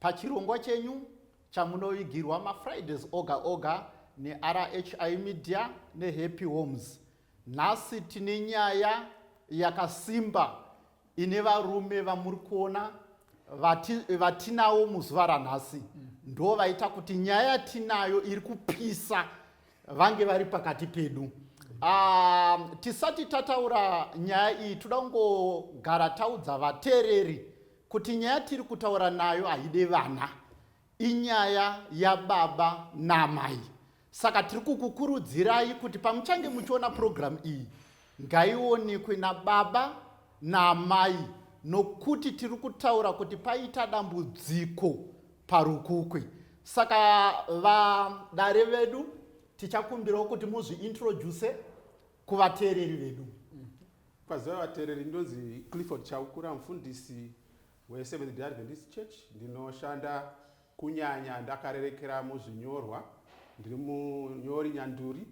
Pachirongwa chenyu chamunovigirwa maFridays oga oga neRHI Media neHappy Homes, nhasi tine nyaya yakasimba ine varume vamuri kuona vati, vatinawo muzuva ranhasi mm. ndo vaita kuti nyaya yatinayo iri kupisa vange vari pakati pedu uh, tisati tataura nyaya iyi toda kungogara taudza vateereri kuti nyaya tiri kutaura nayo haide vana inyaya yababa naamai saka tiri kukukurudzirai kuti pamuchange muchiona purogiramu iyi ngaionekwe nababa naamai nokuti tiri kutaura kuti paita dambudziko parukukwe saka vadare vedu tichakumbirawo kuti muzviintroduce kuvateereri vedu Kwaziva vatereri ndonzi Clifford Chaukura mfundisi we Seventh Day Adventist Church ndinoshanda kunyanya ndakarerekera muzvinyorwa ndiri munyori nyanduri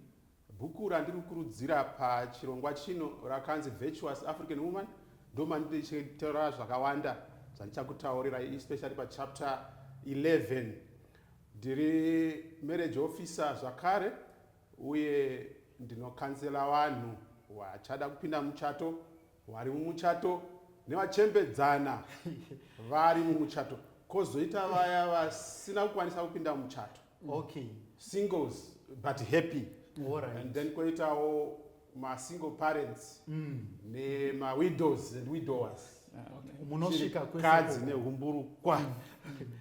bhuku randiri kukurudzira pachirongwa chino rakanzi Virtuous African Woman ndomandirichitaura zvakawanda zvandichakutaurira especially pachapter 11 ndiri marriage officer zvakare Uye ndinokanzela vanhu vachada kupinda muchato, vari mumuchato, nevachembedzana vari mumuchato, kozoita vaya vasina kukwanisa kupinda muchato. Okay. Singles but happy. All right. And then koitawo masingle parents mm. nemawidows and widowers munosvika kwekadzi nehumburukwa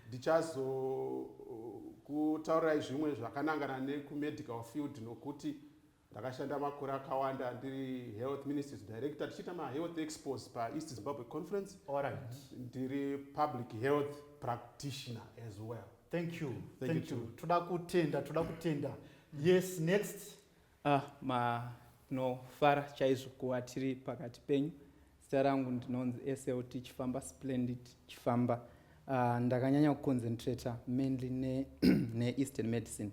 ndichazokutaurirai uh, zvimwe zvakanangana nekumedical field nokuti ndakashanda makore akawanda ndiri health ministries director tichiita mahealth expos paeast zimbabwe conference right. ndiri public health practitioner as well thank you thank, thank you toda kutenda toda kutenda yes next Ah ma tinofara chaizvo kuva tiri pakati penyu. Zita rangu ndinonzi SLT Chifamba Splendid Chifamba. Uh, ndakanyanya kuconcentrata mainly ne, ne eastern medicine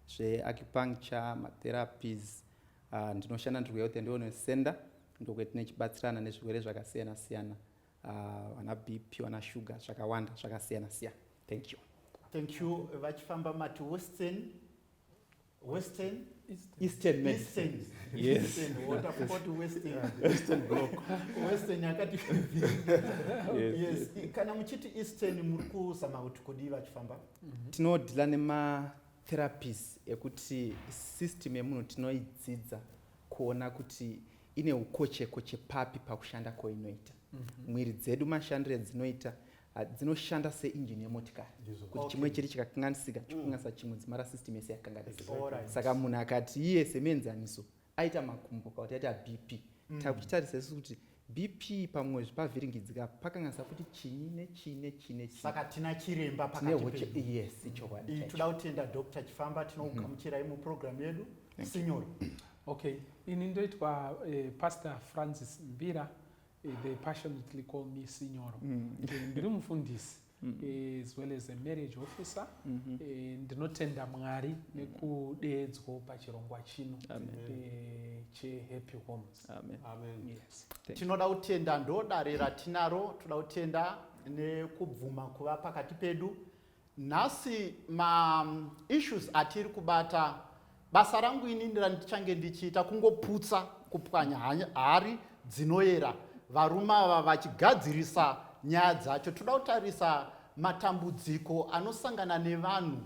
zveacupuncture matherapies uh, ndinoshanda ndiri kuhealth and wellness center ndokwetine chibatsirana nezvirwere zvakasiyana siyana uh, vana bp vana sugar zvakawanda zvakasiyana siyana thank you thank you vachifamba mati western western eastern, eastern medicine yes western yakati yes kana muchiti eastern muri kuzama kuti kudii vachifamba mhm. tinodhila nematherapies ekuti system yemunhu tinoidzidza kuona kuti ine ukochekoche papi pakushanda kwainoita mhm. mwiri dzedu mashandiro edzinoita Ah, dzinoshanda seinjini yemotikari kuti chimwe chiri chikakanganisika mm. chikukanganisa chimwe dzimara system yese yakanganisika saka munhu akati iye semenzaniso aita makumbo kauti aita bp mm. takuchitarisa isu kuti bp pamwe zvipavhiringidzika pakanganisa kuti chinyi nechii nechii nechsaka tina chiremba pakatiyes chokwadi toda kutenda dr chifamba tinokugamuchirai mm-hmm. muprogramu yedu sinyoro okay ini ndoitwa eh, pastor francis mbira Eh, they passionately call me sinyoro mm. eh, ndiri mufundisi mm. eh, as well as a marriage officer mm-hmm. ndinotenda mwari mm. nekudeedzwo pachirongwa chino chehappy homes tinoda kutenda ndodare ratinaro toda kutenda nekubvuma kuva pakati pedu Nhasi ma issues atiri kubata basa rangu inini randichange ndichiita kungoputsa kupwanya hari dzinoyera varume ava vachigadzirisa nyaya dzacho toda kutarisa matambudziko anosangana nevanhu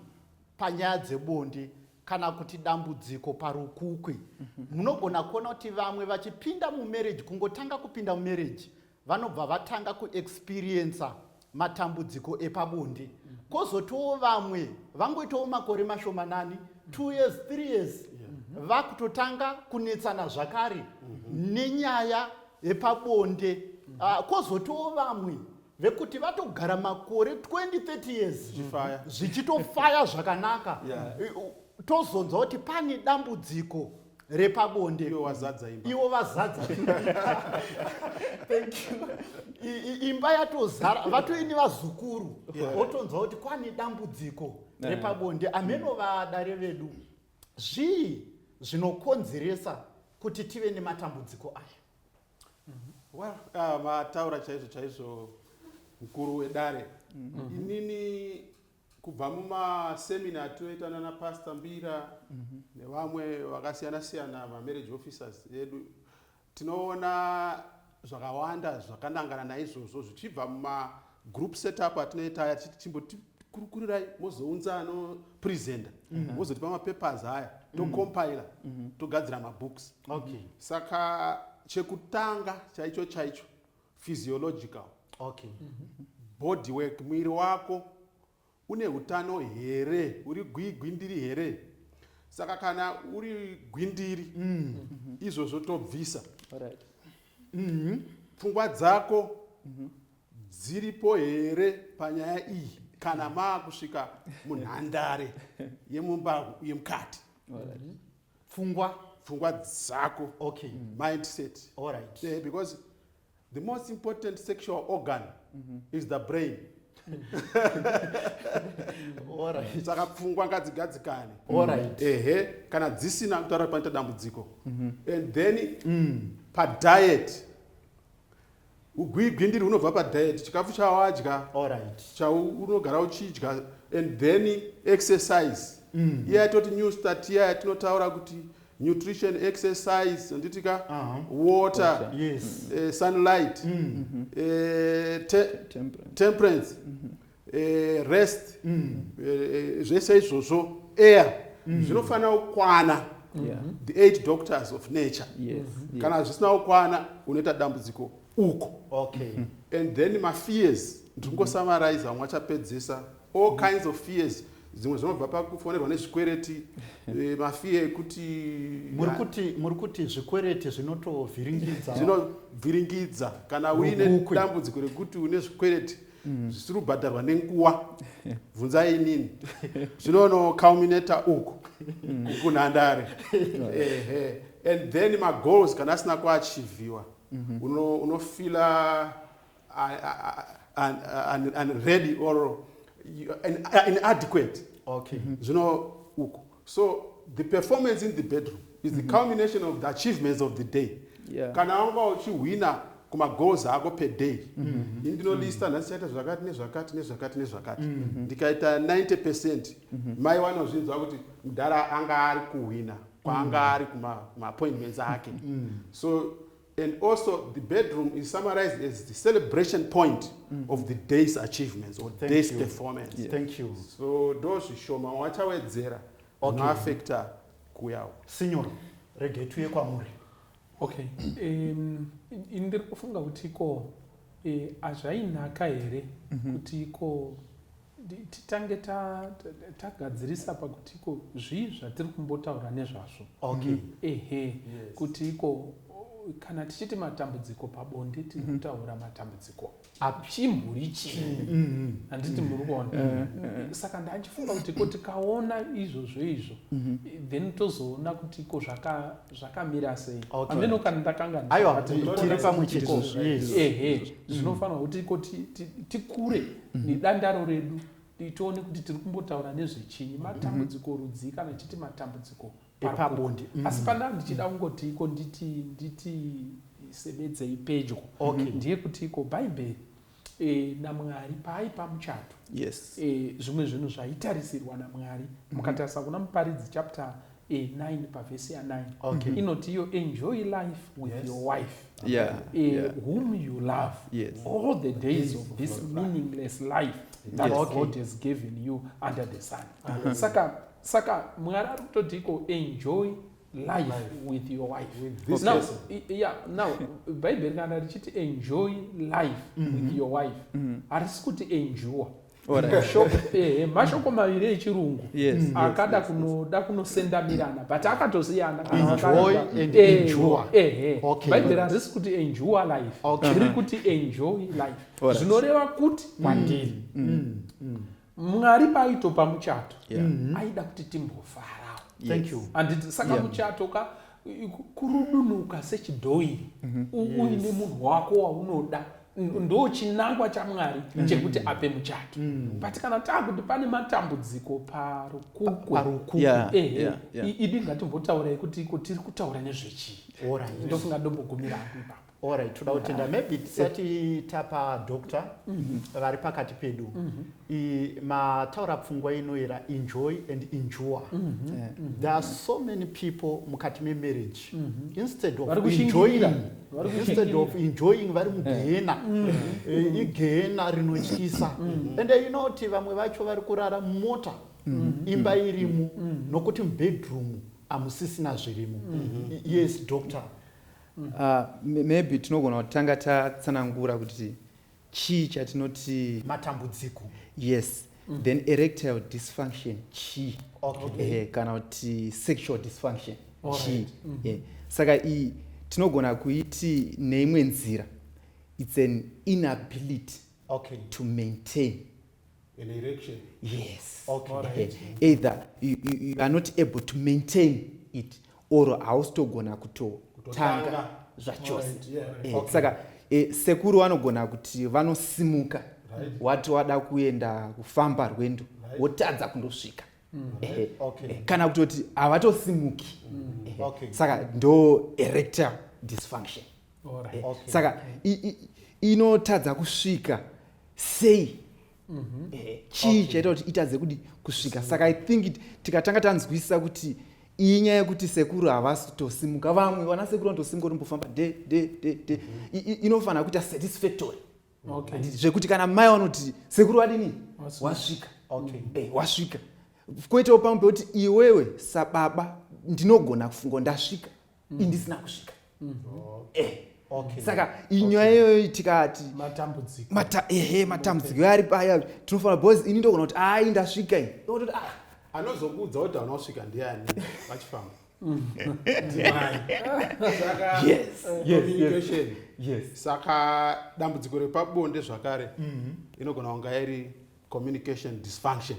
panyaya dzebonde kana kuti dambudziko parukukwi mhm. munogona kuona kuti vamwe vachipinda mumarriage kungotanga kupinda mumarriage vanobva vatanga kuexperiencer matambudziko epabonde kozotiwo vamwe vangoitawo makore mashomanani two years three years vakutotanga kunetsana zvakare nenyaya yepabonde ah, kozotiwo vamwe vekuti vatogara makore 2030 years zvichitofaya zvakanaka tozonzwa kuti pane dambudziko repabonde iwo wazadza imba iwo vazadza thank you imba yatozara vatoini vazukuru wotonzwa kuti kwane dambudziko repabonde ameno vadare vedu zvii zvinokonzeresa kuti tive nematambudziko aya well uh, vataura chaizvo chaizvo mkuru wedare mm-hmm. inini Kubva mumasemina atinoita nana Pastor Mbira mm -hmm. nevamwe vakasiyana siyana mamarriage officers edu tinoona zvakawanda zvakanangana naizvozvo zvichibva mumagroup setup atinoita aya tichiti chimbotikurukurirai mozounza anopresenta mhm. mozotipa mm -hmm. mapapers aya tocompila mm -hmm. togadzira mabooks okay. saka chekutanga chaicho chaicho physiological okay mm -hmm. body work mwiri wako une utano here uri gwigwindiri here saka kana uri gwindiri mm. mm -hmm. izvozvo tobvisa right. mm -hmm. pfungwa dzako mm -hmm. dziripo here panyaya iyi kana mm. maakusvika munhandare yemumba yemukati right. pfungwa pfungwa dzako okay. mindset All right. yeah, because the most important sexual organ mm -hmm. is the brain saka pfungwa ngadzigadzikane ehe kana dzisina kutaura panoita dambudziko mhm. and then mm. padiet Ugwigwindiri hunobva padiet, chikafu chawadya, chaunogara uchidya and then exercise. Mm. Iya yatoti new start iya yatinotaura kuti nutrition exercise handiti ka uh -huh. water yes. uh, sunlight mm -hmm. uh, te temperance, temperance. Mm -hmm. eh, rest mm. eh, zvese izvozvo air mm. zvinofanira kukwana yeah. the eight doctors of nature yes. Mm-hmm. kana zvisina kukwana unoita dambudziko uko okay. Mm-hmm. and then mafears ndiri kungosamarize vamwe vachapedzisa all kinds of fears dzimwe zvinobva pakufonerwa nezvikwereti eh, mafiya ekuti muri kuti zvikwereti zvinotovhiringidza zvinovhiringidza kana uine dambudziko rekuti une zvikwereti mm. zvisiri kubhadharwa nenguva bvunzai inini zvinonoculminator uku mm. kunhandare ehe and then magoals kana asina kuachivhiwa mm-hmm. unofila unready or inadequate zvino uku so the performance in the bedroom is the mm -hmm. culmination of the achievements of the day yeah. kana wanga uchihwina kumagoals ako per day mm -hmm. ini ndinolista mm -hmm. nhasi chaita zvakati nezvakati nezvakati nezvakati mm -hmm. ndikaita 90 percent mm -hmm. mai wanozvinzwa kuti mudhara anga ari kuhwina kwaanga mm -hmm. ari kumaappointments ake mm -hmm. so And also the bedroom is summarized as the celebration point mm. of the day's achievements or Thank day's you. performance. Yes. Thank you. So those shoma wachawedzera okay. unoafecta kuyawo. Signor, rege tuye kwamuri. Okay. Um, ndiri kufunga kuti ko eh, hazvainaka here mhm. kuti ko titange tagadzirisa pakuti iko zvii zvatiri kumbotaura nezvazvo okay. Mhm. ehe yes. kuti iko kana tichiti matambudziko pabonde tiri mhm. kutaura matambudziko achimburi chii mhm. handiti muri kuona eh, eh. saka ndachifunga kuti ko tikaona izvozvo izvo then tozoona kuti iko zvakamira sei ameno kana ndakangaaiwa tiri pamwe chete ehe zvinofanira kuti iko tikure mhm. nedandaro redu tione kuti tiri kumbotaura nezvechinyi matambudziko mhm. rudzii kana tichiti matambudziko epabonde mhm. asi pandaa ndichida kungoti iko nditi nditi sebedzei pedyo ndiye kuti iko bhaibheri e, namwari paaipa muchato yes. e, zvimwe zvinhu zvaitarisirwa namwari mukatarisa kuna muparidzi chapter e, 9 pavhesi ya 9 okay. inoti iyo enjoy life with yes. your wife yeah. e, yeah. whom you love yes. all the days of this meaningless life that yes. okay. god has given you under the sun uh -huh. saka saka mwari ari kutoti iko enjoy life, life with your wife with this now, person. yeah, now bhaibheri kana richiti enjoy life mm -hmm. with mm-hmm. your wife mm-hmm. harisi mm -hmm. kuti enjua Eh, mashoko maviri echirungu mm. akada kunoda kunosendamirana but akatosiyana bhaibheri harisi kuti enjua life riri kuti enjoy life zvinoreva kuti mm. kwandiri mm. mwari paaitopa muchato mm-hmm. aida kuti timbofarawo anditi saka muchato ka kurudunuka sechidhoiri mhm. uine munhu wako waunoda ndo chinangwa chamwari mm. chekuti ape muchato mm. but kana taakuti pane matambudziko parukukuparukuku ehe idi ngatimbotaurei kuti iko tiri kutaura nezvechii ndofunga ndombogumira apo ipapo Alright, toda kutenda maybe tisati tapa doctor mhm. vari pakati pedu mhm. mataura pfungwa inoera enjoy and endure mhm. eh, there are so many people mukati memarriage instead of enjoying instead of enjoying vari eh. mugehena eh, igehena rinotyisa and you know kuti vamwe vacho vari kurara mumota imba irimu nokuti mubedroom hamusisina zvirimo yes doctor Uh, maybe tinogona kuti tanga tatsanangura kuti chii chatinoti matambudziko yes mm. then erectile dysfunction chii okay. eh, kana kuti sexual dysfunction chii right. mm -hmm. yeah. saka iyi tinogona kuiti neimwe nzira its an inability okay. to maintain an erection yes okay. right. either you, you, you are not able to maintain it or hausitogona kutotanga zvachose right. yeah, right. eh, okay. saka eh, sekuru vanogona kuti vanosimuka right. wati wada kuenda kufamba rwendo right. wotadza kundosvika mm. eh, right. okay. eh, kana kutoti havatosimuki mm. eh, okay. saka ndo erector dysfunction right. Eh, okay. saka inotadza kusvika sei mhm. eh, chii chaita kuti itadze kudi kusvika saka i think tikatanga tanzwisisa kuti iyi nyaya yekuti sekuru havasi kutosimuka vamwe vana sekuru vanotosimuka otombofamba de de de de mhm. inofanira kuita satisfactory zvekuti kana mai vanoti sekuru vadini wasvika eh, wasvika kwoitawo pamwe pekuti iwewe sababa ndinogona kufunga ndasvika mm. indisina kusvika mm -hmm. eh. Okay. saka inyaya okay. iyoyo tikati matambudziko mata, ehe matambudziko okay. ari paya tinofanira bcause ini ndogona kuti ai ndasvika i ototi ah anozokuudza kuti hauna kusvika ndiani vachifamba saka dambudziko repabonde zvakare mm -hmm. inogona kunga iri communication dysfunction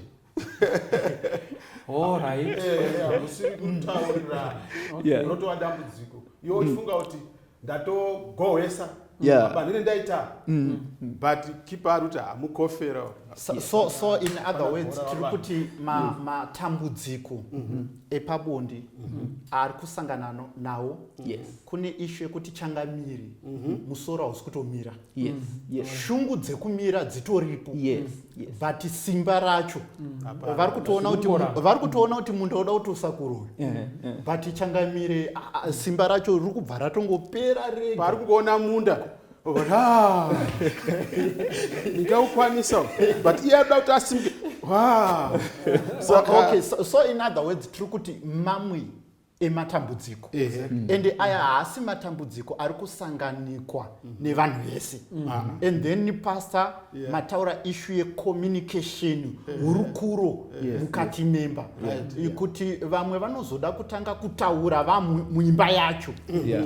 unotoa dambudziko iwo uchifunga mm. kuti ndatogohwesa yeah. but ndine ndaita mm. but kipa ari kuti hamukofera so, so, so in other words tiri kuti mm. matambudziko ma mm -hmm. epabondi mm -hmm. ari kusangana nawo yes. kune ishu yekuti changamiri mm -hmm. musoro hausi kutomira yes, mm. yes. shungu dzekumira dzitoripo yes, mm. yes. but simba racho mm. vari kutoona kuti vari kutoona kuti munda uda kuti usakurwe yeah, yeah. but changamire simba racho riri kubva ratongopera rega vari kuona munda ndikaukwanisa but iye ada kuti asimuke so, okay, so, so in other words tiri kuti mamwe ematambudziko ende aya haasi matambudziko ari kusanganikwa nevanhu vese and then pastor mataura ishu yecommunication hurukuro mukati memba kuti vamwe vanozoda kutanga kutaura vamwe muimba yacho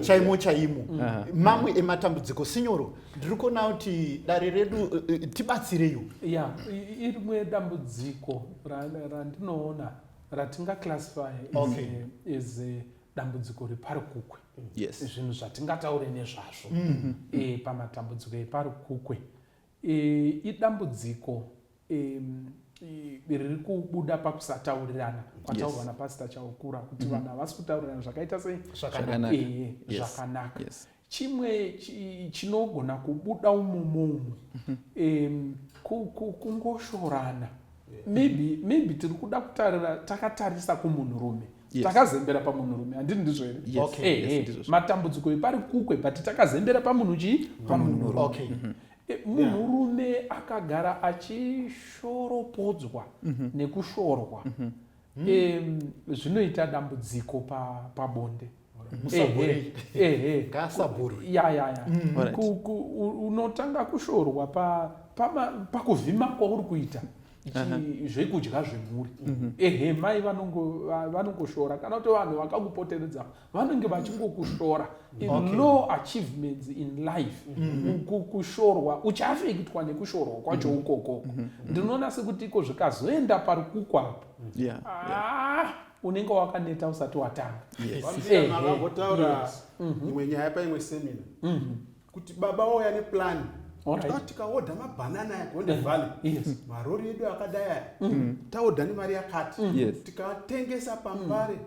chaimo chaimo uh-huh. mamwe ematambudziko sinyoro ndiri kuona kuti dare redu eh, eh, tibatsireiwo ya rimwe dambudziko randinoona ratinga classify okay. is a, is a dambudziko reparukukwe yes. zvinhu zvatingataure nezvazvo mm -hmm. e, pamatambudziko eparukukwe e, idambudziko e, riri kubuda pakusataurirana kwataurwa yes. napasita chaukura kuti mm -hmm. vanhu havasi kutaurirana zvakaita sei zvakanaka e, yes. zvakanaka yes. chimwe chinogona kubuda umomo umo um, kungoshorana maybe maybe tiri kuda kutarira takatarisa kumunhurume yes. takazembera pamunhurume handini ndizvo here yes. okay. hey, eh, yes, hey. Eh, matambudziko epari kukwe but takazembera pamunhu chii pamunhurume okay. mm -hmm Eh, munhurume yeah. akagara achishoropodzwa mm -hmm. nekushorwa mm -hmm. e, zvinoita dambudziko pabonde pa Eh, eh, eh, mm. unotanga kushorwa pakuvhima kwauri kuita zvekudya zvemhuri mhm. ehe mai vanongoshora kana kuti vanhu vakakupoteredza vanenge vachingokushora no achievements in life mhm. kushorwa uchaafektwa nekushorwa kwacho mhm. ukokoko ndinoona sekuti iko zvikazoenda pari kukwapo ah, unenge wakaneta usati watanga vambotaura mhm. imwe nyaya paimwe semina mhm. kuti baba wauya neplan tikaodha mabhanana aya gonde mhm. valley marori edu akadai aya taodha nemari yakati tikatengesa pambare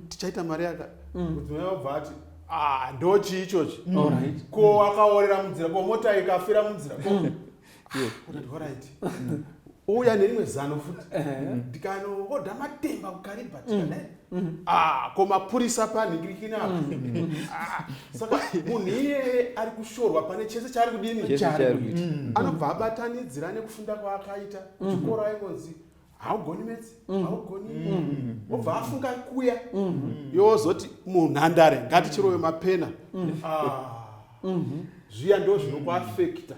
tichaita mari yakati mudzimai wabva ati ah, ndochii ichochi ko akaorera munzira ko mota ikafira munzira uya nerimwe zano futi ndikanoodha matemba kukariba tikadai mm. mm. ah, ko mapurisa panhikirikina mm. ah, saka munhu iyeye ari kushorwa pane chese chaari kudini anobva abatanidzira nekufunda kwaakaita chikoro aingonzi haugoni metsi mm. haugoni mm. obva afunga kuya mm. yozoti munhandare ngatichirove mapena ah. mm-hmm. zviya ndo zvinokuafekta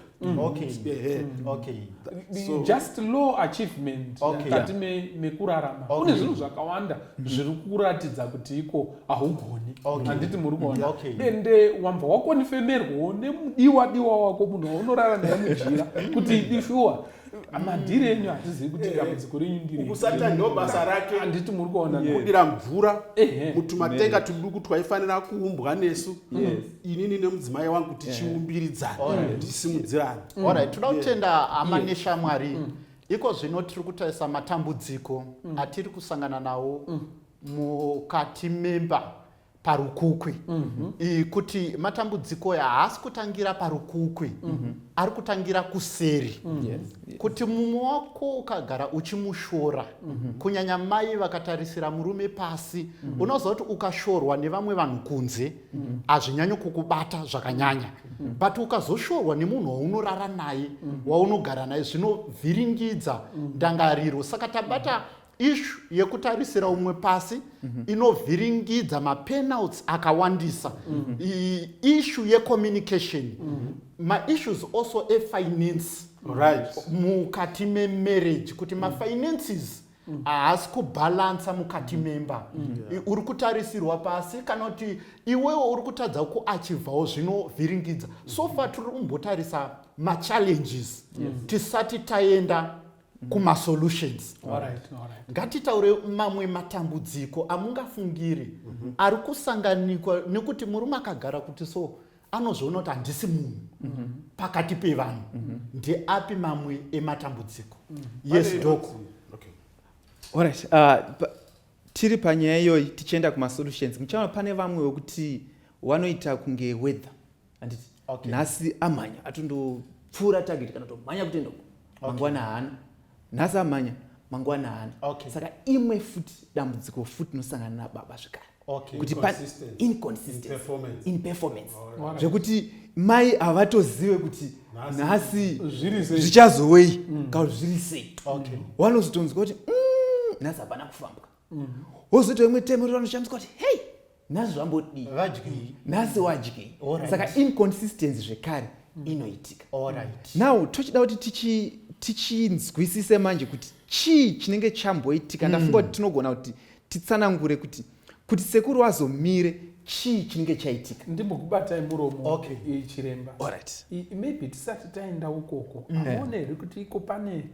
just low achievement mukati mekurarama kune zvinhu zvakawanda zviri kuratidza kuti iko haugoni handiti muri kuona ende wambva wakonifemerwawo nemudiwa diwa wako munhu waunorara naye mujira kuti idishuwa madhiri enyu hatizivi kuti dambudziko eh, renyu ndirikusata ndo basa rake handiti muri kuona kudira mvura mutumatenga tuduku twaifanira kuumbwa nesu inini nemudzimai wangu tichiumbiridzana tisimudzirana orit toda kutenda hama neshamwari mm. iko zvino tiri kutarisa matambudziko mm. atiri kusangana nawo mm. mukati memba parukukwi mm -hmm. kuti matambudziko aya haasi kutangira parukukwi mm -hmm. ari kutangira kuseri mm -hmm. yes. Yes. kuti mumwe wako ukagara uchimushora mm -hmm. kunyanya mai vakatarisira murume pasi mm -hmm. unoziva kuti ukashorwa nevamwe vanhu kunze mhm. hazvinyanyi mm -hmm. kukubata zvakanyanya mm -hmm. but ukazoshorwa nemunhu waunorara naye mm -hmm. waunogara naye zvinovhiringidza mm -hmm. ndangariro saka tabata mm -hmm ishu yekutarisira umwe pasi mm -hmm. inovhiringidza mapenalts akawandisa mm -hmm. ishu yecommunication mm -hmm. maissues also efinance right. mukati memarriage kuti mm -hmm. mafinances mm. haasi mm. kubhalansa mukati mm. memba mm. yeah. uri kutarisirwa pasi kana kuti iwewo uri kutadza kuachivhawo zvinovhiringidza mm. so far tiri kumbotarisa machallenges yes. tisati taenda mm. kumasolutions ngatitaure mamwe matambudziko amungafungiri mm-hmm. ari kusanganikwa nekuti murume akagara kuti so anozviona kuti handisi munhu mm-hmm. pakati pevanhu mm-hmm. ndeapi mamwe ematambudziko mm. yes doko orit uh, tiri panyaya iyoyi tichienda kumasolutions muchaona pane vamwe wekuti wanoita kunge weather anditi okay. nhasi amhanya atondopfuura target kana tomhanya kutoenda uko okay. mangwana haana nhasi amhanya mangwana haana okay. saka imwe futi dambudziko futi nosangana nababa zvekare okay. kuti inconsistencyinperformance right. zvekuti mai havatozive kuti nhasi zvichazowei mm. kauzviri sei okay. wanozotonzwa kuti mm, nhasi hapana kufambwa mm-hmm. wozoita imwe temo ri vanoshandiswa kuti hei nhasi zvambodii vadyei nhasi wadyei saka inconsistency zvekare mm. inoitika now tochida kuti tichi tichinzwisise manje kuti chii chinenge chamboitika ndafunga kuti mm. tinogona kuti titsanangure kuti kuti sekuru wazomire chii chinenge chaitika ndimbokubatai muromo okay. chiremba right. maybe tisati taenda ukoko mm. aone here kuti iko pane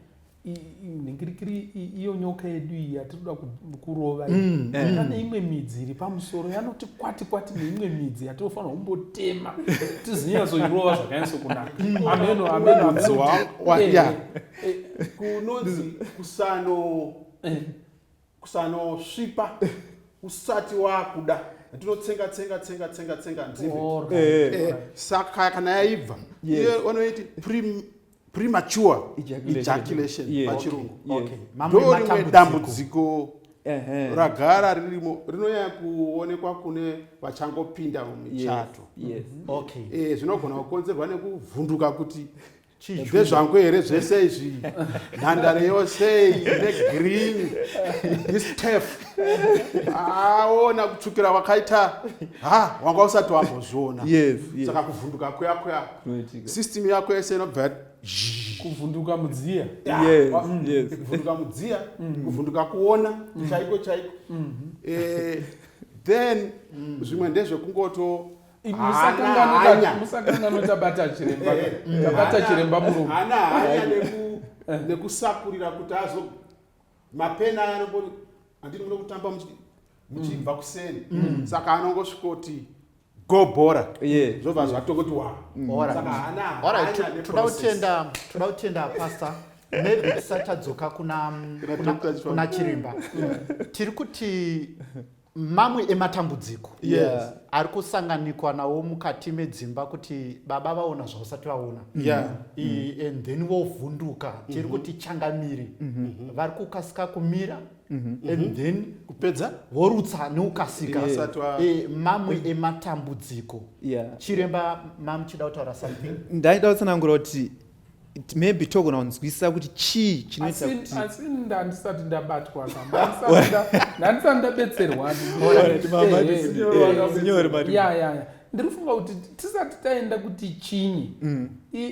nhingirikiri iyo nyoka yedu iyi yatinoda kurova mm, mm. pane imwe midzi iri pamusoro yanoti kwati kwati neimwe midzi yatinofanira kumbotema tizinyatsoirova zvakanyatso kunaka mm. ameno amenokunonzi eh, eh, kusano eh. kusanosvipa usati wakuda tinotsenga tsenga tsenga tsenga tsenga nzivi saka kana yaibva vanoiti premature ejaculation pachirungu ndorimwe dambudziko ragara ririmo rinonyanya kuonekwa kune vachangopinda mumichato mhm. eh, zvinogona kukonzerwa nekuvhunduka kuti ndezvangu here zvese izvi nhandare yose negreen istef aona kutsvukira wakaita ha wanga usati wambozviona saka kuvhunduka kuya kuya system yako yese inobva yati kuvhunduka mudziya Yes, Wa- mm, yes. kuvhunduka mudziya kuvhunduka kuona chaiko chaiko Eh, then zvimwe ndezvekungoto hana hanya. musakangano tabata chiremba Eh, tabata hana- chiremba murume hana hanya neku- nekusakurira kuti azo mapena aya anongoti andini muno kutamba muchibva mm. kuseni mm. saka anongosvikoti go bhora zvobva zvatokoti watoda kutenda pasta maybe tisati tadzoka kuna chiremba tiri kuti mamwe ematambudziko yes. ari kusanganikwa nawo mukati medzimba kuti baba vaona zvausati vaona yeah. mm -hmm. and then vovhunduka mm -hmm. tiri kuti changamiri mm -hmm. vari kukasika kumira mm -hmm. and mhm. then kupedza vorutsa neukasika yeah. e, mamwe mm. ematambudziko yeah. chiremba mamuchida kutaura something ndaida kutsanangura kuti maybe togona kunzwisisa kuti chii chinoita kuti asi ndandisati ndabatwa ndandisati ndabetserwa ndiri kufunga kuti tisati taenda kuti chinyi mm.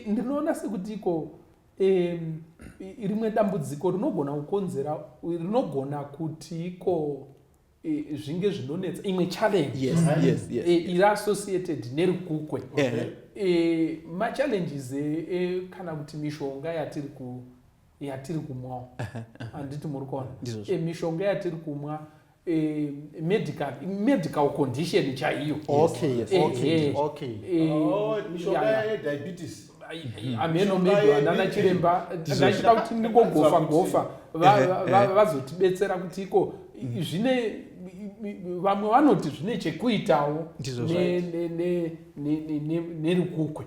ndinoona sekuti iko rimwe dambudziko rinogona kukonzera rinogona kuti iko Eh, zvinge zvinonetsa imwe challenge yes, right? yes, yes, eh, iri associated nerukukwe eh. okay. e, machallenges e, e, kana kuti mishonga yatiri ku yatiri kumwawo handiti muri kuona e, mishonga yatiri kumwa e, medical medical condition chaiyo okay, yes, okay, okay. E, oh, mishonga yediabetes hameno maybe vanana chiremba ndachida kuti ndingogofa gofa vazotibetsera kuti iko zvine vamwe vanoti zvine chekuitawo nerukukwe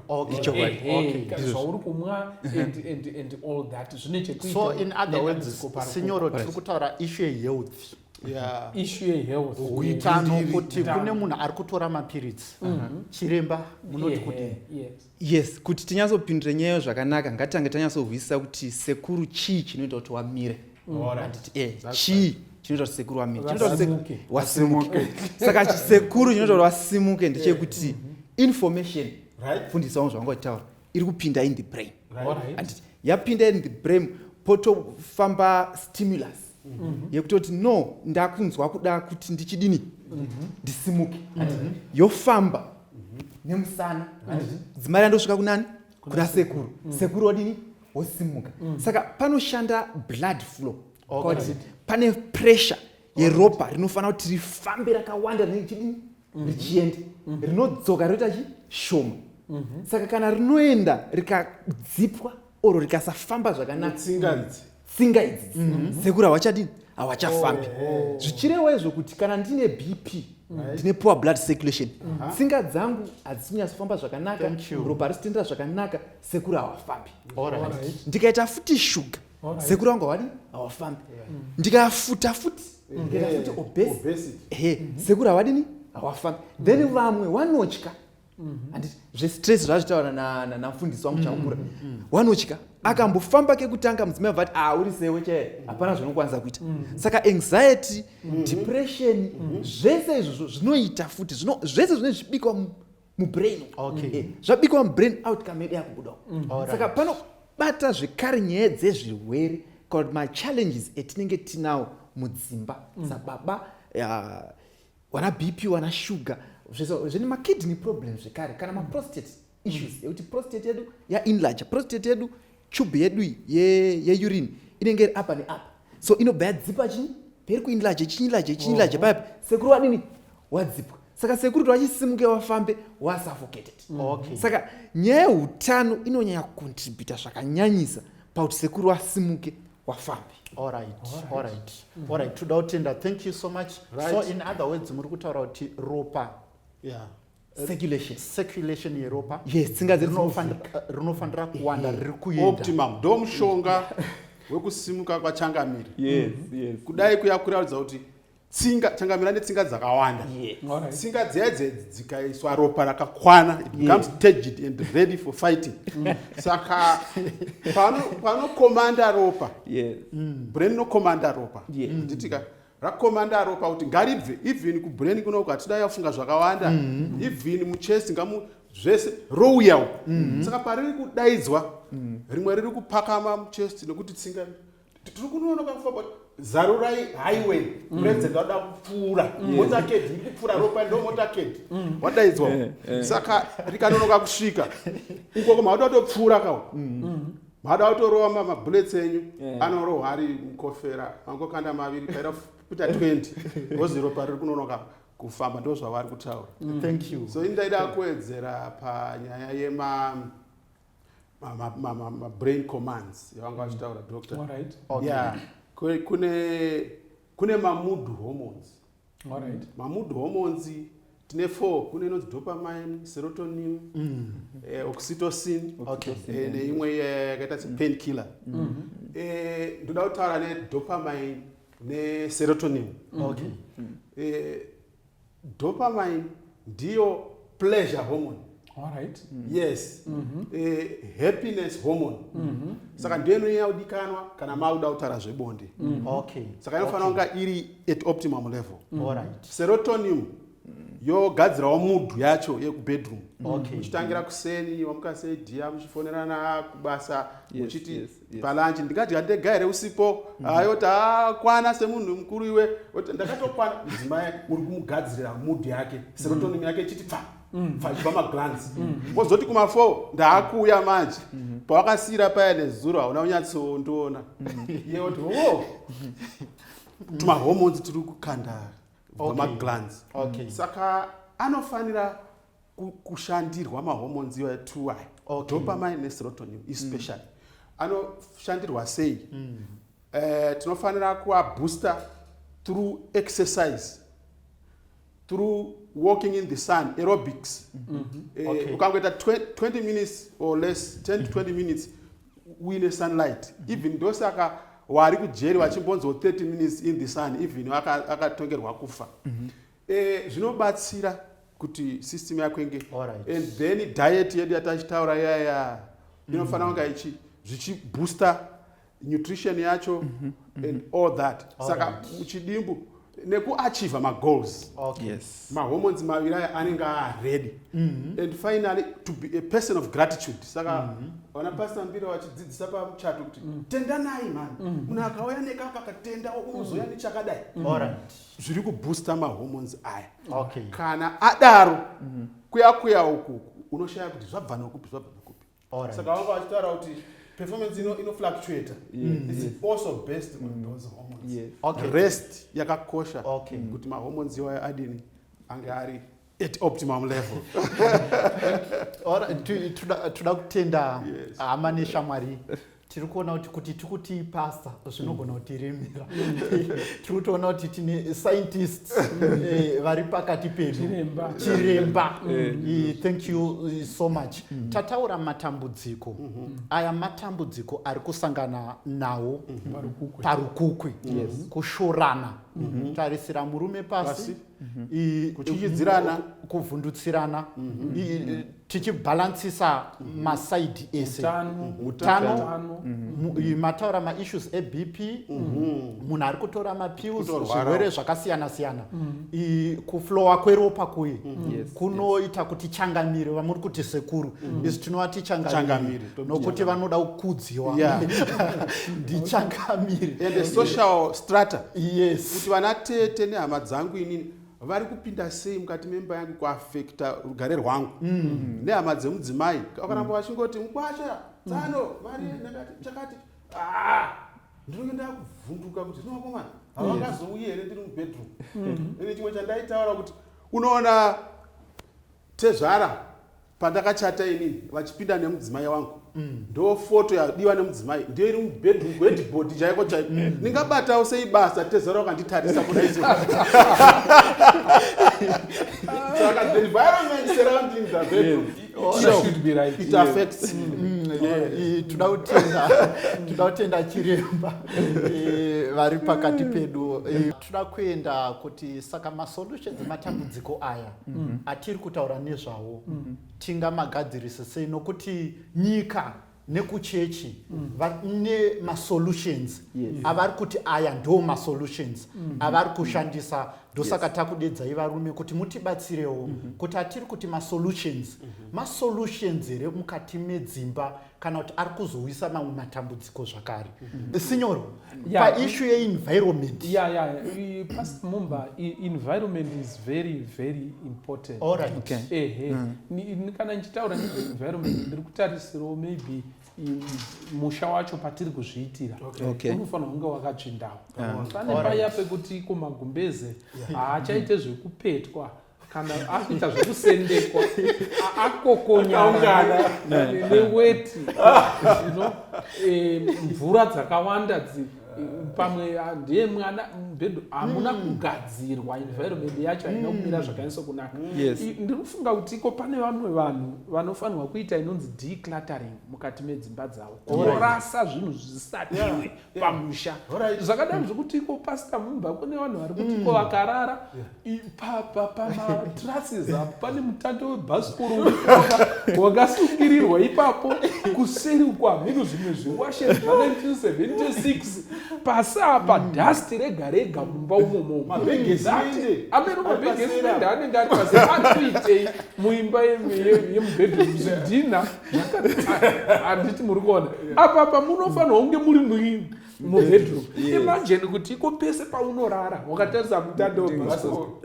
zvauri kumwa and all that zvine chekuitaso in other words sinyoro tiri kutaura ishu yehealth ishu yehealth utano kuti kune munhu ari kutora mapiritsi mhm. chiremba munoti kuti yes kuti tinyatsopindure nyaya iyo zvakanaka ngatitange tanyatsohwisisa kuti sekuru chii chinoita kuti wamire anditi e chii chinoita kuti sekuru wamire chinoita kuti seku- Vasimuke. wasimuke saka chi- sekuru chinoita kuti wasimuke ndechekuti information Right. fundisa wangu zvavanga uchitaura iri kupinda in the brain Alright. anditi yapinda in the brain potofamba stimulus Mm-hmm. yekutoti no ndakunzwa kuda kuti ndichidini mm-hmm. ndisimuke mm-hmm. yofamba nemusana dzimai randosvika kunani kuna sekuru mm. sekuru odini wosimuka mm. saka panoshanda blood flow kuti pane pressure yeropa rinofanira kuti rifambe rakawanda rinenge chidini richienda rinodzoka rinoita chi shoma saka kana rinoenda rikadzipwa oro rikasafamba zvakanaka tsinga idzi mhm. sekuru hawachadini hawachafambi oh. zvichirewa izvo kuti kana ndine bp ndine poor blood circulation tsinga dzangu hadzisinyatsofamba zvakanaka ropa risitendera zvakanaka sekuru hawafambi ndikaita futi shuga sekuru vangu havadi hawafambi ndikafuta futi ndikaita futi obesity sekuru havadini hawafambi then vamwe vanotya Mm-hmm. and zvestress zvazvitaura namfundisi wangu chakura mm, mm, mm. wanotya akambofamba kekutanga mudzimai vati ah uri sewe chaye hapana zvinokwanisa kuita saka anxiety depression zvese izvozvo zvinoita futi zvese zvine zvibikwa mubrain eh, zvabikwa mubrain outcome yedu yakubudawo saka panobata zvekare nyaya dzezvirwere kana kuti machallenges etinenge tinawo mudzimba sababa wana bp wana sugar zvine makidney problem zvekare kana maprostate issues mm. yekuti prostate yedu yainlarge prostate yedu tube yedu yeurine inenge iri apa neapa so inobva yadzipa chii peri kuinlarge chiinlarge chiinlarge papi sekuru wadini wadzipwa saka sekuru towachisimuke wafambe wasuffocated mm. saka nyaya yeutano inonyanya kucontributa zvakanyanyisa pakuti sekuru wasimuke wafambi alright alright mhm. alright toda kutenda thank you so much right. so in other words muri kutaura kuti ropa yeah circulation circulation yeropa yes tsinga dzerinofanira eh, kuwanda riri kuenda optimum ndo mushonga wekusimuka kwachangamire yes yes kudai kuya kuraridza kuti tsinga changamira netsinga dzakawanda tsinga dziya dzedzi dzikaiswa ropa rakakwana it becomes turgid and ready for fighting mm. saka panokomanda ropa mm. brain inokomanda ropa nditika mm. rakomanda ropa kuti ngaribve even kubrain kuno ukatida yafunga zvakawanda mm-hmm. even muchest ngamu zvese rouya uku mm-hmm. saka pariri kudaidzwa rimwe riri kupakama muchest nekuti tsinga tiri kunonoka kufa but zarurai highway mm. president wada kupfuura mm. motorcade iri kupfuura ropa ndo motorcade mm. wadaidzwa eh, eh. saka rikanonoka kusvika uko ko maada kutopfuura kawo maada kutorova mabullets enyu eh. anorohwa ari mukofera mangokanda maviri paida kuita 20 ozi ropa riri kunonoka kufamba ndo zvavari kutaura so indaida kuwedzera panyaya yema mabrain commands yavanga mm. vachitaura doctor yeah kune kune mamood hormones right. mamood hormones tine four kune inonzi dopamine serotonin mm. eh, oxytocin okay. eh, neimwe eh, yakaita se pain killer mm. mm. eh, ndoda kutaura nedopamine neserotonin okay. mm. eh, Dopamine ndiyo pleasure hormone. All right. Mm -hmm. Yes. Mm -hmm. eh, happiness hormone. Mm -hmm. Saka ndiyo inonyanya kudikanwa kana makuda kutaura zvebonde. Mm -hmm. Okay. Saka inofanira okay. kunga iri at optimum level. Mm -hmm. All right. Serotonin yogadzirawo mudhu yacho yekubedroom okay. muchitangira kuseni wamuka sei dhiya muchifonerana kubasa muchiti yes, yes. yes. palanchi ndikadya ndega here usipo mm -hmm. ayoti akwana semunhu mukuru iwe oti ndakatokwana mudzimai uri kumugadzirira mudhi yake mhm. serotonim mm -hmm. yake chiti pfa mhm. pfaiba maglans mhm. wozoti mm -hmm. kumafo ndaakuuya manje mm -hmm. pawakasiyira paya nezuro hauna unyatsondiona mm -hmm. yeoti o oh. tumahormones tiri kukanda vamaglans okay. mm -hmm. saka anofanira kushandirwa mahormones iwayo two ayo okay. dopamine neserotonin especially mm. anoshandirwa sei mm. uh, tinofanira kuabooster through exercise through walking in the sun aerobics mm -hmm. uh, okay. ukangoita 20 minutes or less 10 to 20 mm-hmm. minutes uine sunlight mm -hmm. even ndosaka wari kujeri vachimbonziwo 30 minutes in the sun even akatongerwa aka kufa mm -hmm. Eh, zvinobatsira kuti system yako inge Alright. and then diet yedu yatachitaura yaya inofanira kunga ichi zvichibooster nutrition yacho and all that saka Alright. muchidimbu nekuachieve magoals Okay. yes mahormones maviri aya anenge aready and finally to be a person of gratitude saka vana pastor mbira vachidzidzisa pamuchato kuti tendanai mani munhu akauya nekaka katenda unozoya nechakadai Alright. zviri kubooster mahormones aya okay. kana adaro mm -hmm. kuya kuya uku unoshaya kuti zvabva nokupi zvabva nokupi right. saka vanga vachitaura kuti performance ino ino fluctuate mm. it's yes. also based on mm. those hormones yes. okay. rest yakakosha okay. Mm. kuti mahormones iwayo adini ange ari at optimum level toda kutenda hama neshamwari tiri kuona kuti kuti tiri kuti pasta zvinogona kuti remera tiri kutoona kuti tine scientists eh, vari pakati pedu chiremba eh. eh, thank you so much mm-hmm. tataura matambudziko mm-hmm. aya matambudziko ari kusangana nawo mm-hmm. parukukwi kushorana tarisira murume pasi mhm. kutyityidzirana kuvhundutsirana mhm. mhm. tichibhalansisa masaidi ese utano mataura maissues ebp munhu ari kutora mapills zvirwere zvakasiyana siyana kuflowa kweropa kuye kunoita kuti changamire vamuri kuti sekuru isu tinova tichangamire nokuti vanoda kukudziwa ndichangamiri and the social strata yes kuti vana tete nehama dzangu inini vari kupinda sei mukati memba yangu kuafekta rugare rwangu mm. nehama dzemudzimai vakaramba mm. vachingoti mukwasha tsano mm. vari ndakati chakati ah, ndinenge ndakuvhunduka kuti zvinovakomana havangazouyi here ndiri mubedroom mm. ine chimwe chandaitaura kuti unoona Tezvara pandakachata ini vachipinda nemudzimai wangu mm. ndo foto yadiwa nemudzimai ndiyo iri mubedroom wedbod chaiko chaiko mm. ndingabatawo sei basa tezara wakanditarisa kudaiso saka the environment surrounding the bedroom yes. toda kutenda chiremba eh, vari pakati pedu eh, toda kuenda kuti saka masolutions ematambudziko aya mhm. atiri kutaura nezvawo mhm. tingamagadzirise sei nokuti nyika nekuchechi mm. nemasolutions avari kuti aya ndo masolutions mm-hmm. avari kushandisa ndosaka takudedzai varume kuti mutibatsirewo mm-hmm. kuti atiri kuti masolutions mm-hmm. masolutions here mukati medzimba kana kuti ari kuzouyisa mamwe matambudziko zvakare mm-hmm. sinyoro paishu yeenvironment ya ya past mumba environment is very very important alright ehe mm. kana ndichitaura nezveenvironment ndiri kutarisirawo maybe musha wacho patiri kuzviitira unofanira kunge wakatsvindawo pane paya pekuti iko magumbeze haachaite zvekupetwa kana akuita zvekusendekwa akokonyana neweti zvino eh, mvura dzakawanda dzi pamwe ah, ndiye mwana mubhedhu hamuna hmm. kugadzirwa environment yacho haina hmm. kumira zvakanyatso kunaka ndiri kufunga kuti iko pane vamwe vanhu vanofanirwa kuita inonzi decluttering mukati medzimba dzavo orasa zvinhu zvisatiwe pamusha zvakadaro mm. zvekuti iko pasta mumba kune vanhu vari kuti iko mm. vakarara pamatrases apo pane mutando webhasikoro wakasungirirwa ipapo kuseri uko hameno zvimwe zviwashe zva1976 pasi apa mm. dust rega rega mumba umomo ameno mabhegesiende anenge ari pasi ari kuitei muimba yemubedroom zvidhina handiti muri kuona apa pamunofanirwa kunge muri muini mubedroom imagine kuti iko pese paunorara wakatarisa mutanda webhasikoro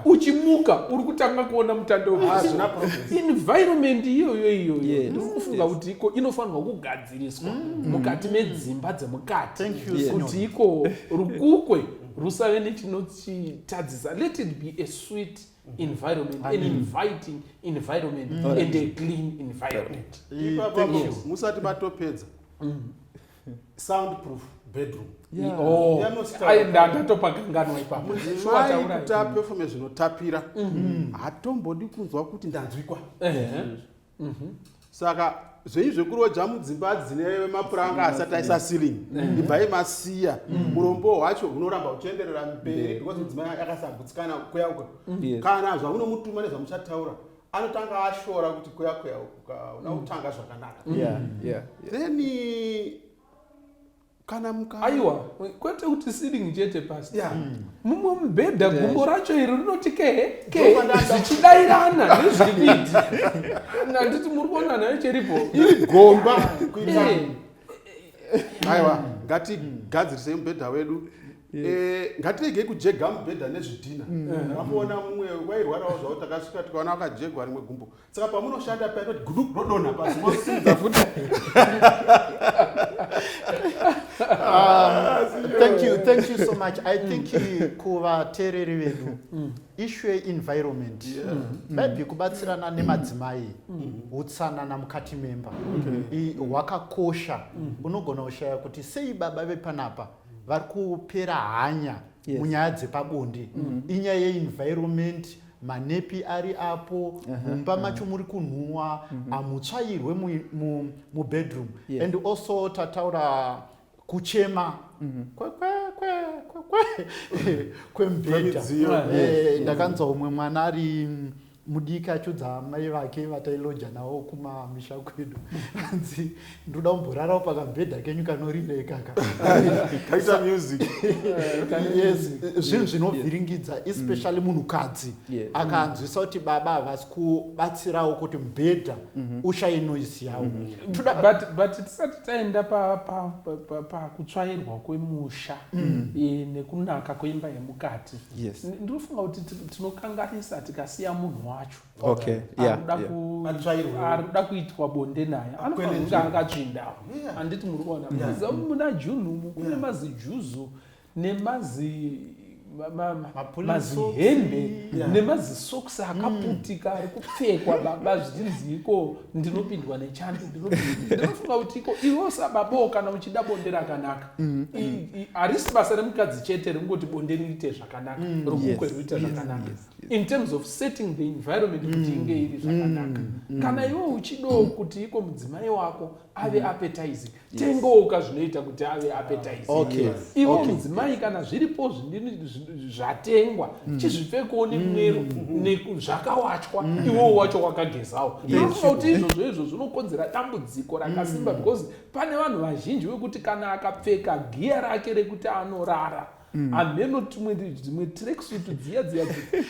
uchimuka uri kutanga kuona mutanda webhasikoroenvironment iyoyo iyoyo ndikufunga kuti iko inofanirwa kugadziriswa mm. mukati medzimba dzemukati kuti iko rukukwe rusave nechinochitadzisa let it be a sweet Mm-hmm. environment an inviting environment mm. and a clean environment musati matopedza mm. sound proof bedroom oh. ndatopa kanganwa ipapokutapefume zvinotapira mm-hmm. hatombodi kunzwa kuti ndanzwikwa Mhm. saka zvei zvekuroja mudzimba dzine mapuranga asati aisa ceiling mhm. ibvai masiya mhm. urombo hwacho hunoramba huchienderera mberi because mudzimai akasagutsikana kuya uko kana zvamunomutuma nezvamuchataura anotanga ashora kuti kuya kuya uka unakutanga zvakanaka then kana muka aiwa kwete kuti sitting chete pasi yeah. mm. mumwe mubhedha yeah. gumbo racho iri rinoti kehe kehe zvichidairana nezvividi nanditi muri kuona nayo cheripo iri gomba kuita eh. aiwa ngatigadzirisei mubhedha wedu Eh, ngatiregei kujega mubhedha nezvidhina mm. ndakamuona mumwe wairwarawo zvavo takasvika tikaona wakajegwa rimwe gumbo saka pamunoshanda paya kuti gudu rodonha pasi mosimudza futi ah, thank you thank you so much i think mm. kuvateereri vedu mm. issue yeenvironment mm. maybe kubatsirana nemadzimai utsanana mukati memba hwakakosha unogona kushaya kuti sei baba vepanapa vari kupera hanya munyaya dzepabonde inyaya yeenvironment manepi ari apo mumba macho muri kunhuwa hamutsvairwe mu- mu- mubedroom Yes. and also tataura kuchema kwe- kwe- kwe- kwe- kwe- kwemubhedha Kwemidziyo. Eh, ndakanzwa umwe mwana ari mudiki achudza amai vake vatailodja nawo kumamisha kwedu hanzi ndoda kumborarawo pakambhedha kenyu kanorira ikaka kaita music yes zvinhu zvinovhiringidza especially munhukadzi akanzwisa kuti baba havasi kubatsirawo kuti mubhedha mhm. ushaye noise yawo mhm. but tisati taenda pakutsvairwa kwemusha mm. e, nekunaka kweimba yemukati ndinofunga kuti tinokanganisa tikasiya munhu wacho okay yeah, arikuda yeah. ku- Atsvairwe. arikuda kuitwa bonde naye anofanira kunge Akwenenzvera. akatsvindawo Yeah. handiti muri kuona Yeah. Muziva muna june umu kune Yeah. mazijuzu nemazi ma- ma- ma- Mapulisi. mazihembe Yeah. nemazisokisi akaputika ari kupfekwa baba zvichinzi iko ndinopindwa nechando ndinopindwa- ndinofunga kuti iko iwo sababawo kana uchida bonde rakanaka I- i- harisi basa remukadzi chete rekungoti bonde riite zvakanaka romukwe Yes, riite yes, zvakanaka yes. in terms of setting the environment kuti mm. inge iri zvakanaka mm. mm. kana iwe uchidawo kuti iko mudzimai wako ave appetizing tengooka zvinoita kuti ave appetizing ivo mudzimai kana zviripo zvindini zvatengwa chizvipfekewo nemwero zvakawachwa iwowo wacho wakagezawo ndinofunga kuti izvozvo izvo zvinokonzera dambudziko rakasimba because pane vanhu vazhinji vekuti kana akapfeka giya rake rekuti anorara Mm. hameno tumwe dzimwe tracksuit dziya dziya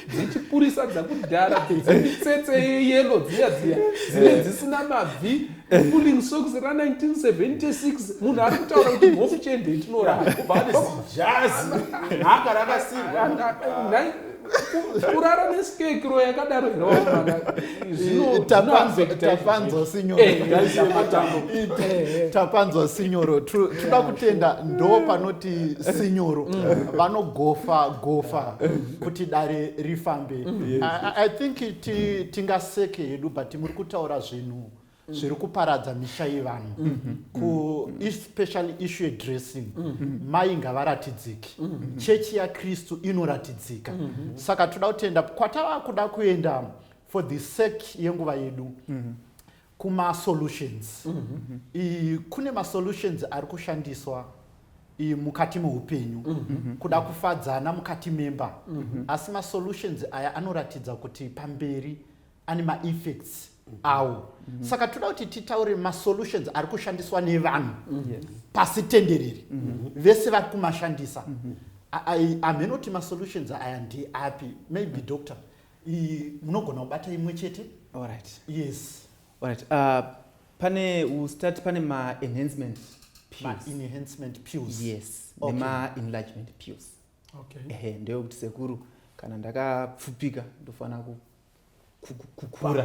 dzechipurisa dzakudhara dzemitsetse yeyelo dziya dziya dzine eh. dzisina mabvi pulling socks ra1976 munhu ari kutaura kuti mhofu chende itinoraaasi kurara neskekiro yakadaro hraatapanzwa sinyorotapanzwa sinyoro tinoda kutenda ndo panoti sinyoro mm. vanogofa gofa kuti dare rifambe i think tingaseke hedu but muri kutaura zvinhu zviri kuparadza misha yevanhu mm-hmm. kuespecially mm-hmm. issue yedressing mm-hmm. mai ngavaratidziki chechi yakristu inoratidzika saka toda kutenda kwatava kuda kuenda for the sake yenguva yedu kumasolutions kune masolutions ari kushandiswa mukati meupenyu kuda kufadzana mukati memba asi masolutions aya anoratidza kuti pamberi ane maeffects awo mm -hmm. saka toda kuti titaure masolutions ari kushandiswa nevanhu mm -hmm. pasi tenderere mm -hmm. vese vari kumashandisa mm -hmm amheno kuti masolutions aya ndeapi maybe doctor munogona kubata imwe chete allright yes allright uh, pane ustart pane maenhancement enhancement pills yes okay. nemaenlargement pills okay. ehe ndeyekuti sekuru kana ndakapfupika ndofanira kukura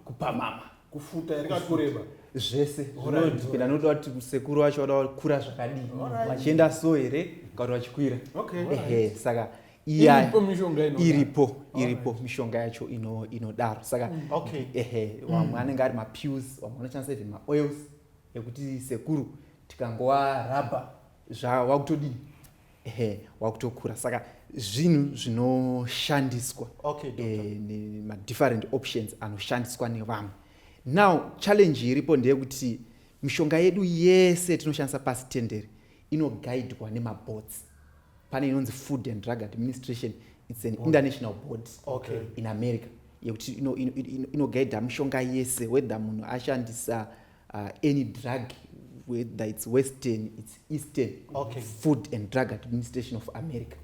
kupamama kufuta here kana kureba zvese zvinodipenda nokuda kuti sekuru vacho vada vakura zvakadii vachienda so here kana kuti vachikwira ehe saka iya iripo iripo mishonga yacho inodaro saka mm. ehe mm. vamwe anenge ari mapills vamwe vanoshandisa even maoils ekuti sekuru tikangova rabha zvawakutodii ehe wakutokura saka zvinhu zvinoshandiswa okay, eh, madifferent options anoshandiswa nevamwe now challenge iripo ndeyekuti mishonga yedu yese tinoshandisa pasi tendere inogaidwa nemabotsi pane inonzi food and drug administration its an board. international board okay. in america yekuti inogaidha ino, ino mishonga yese whether munhu ashandisa uh, any drug whether it's western it's eastern okay. food and drug administration of america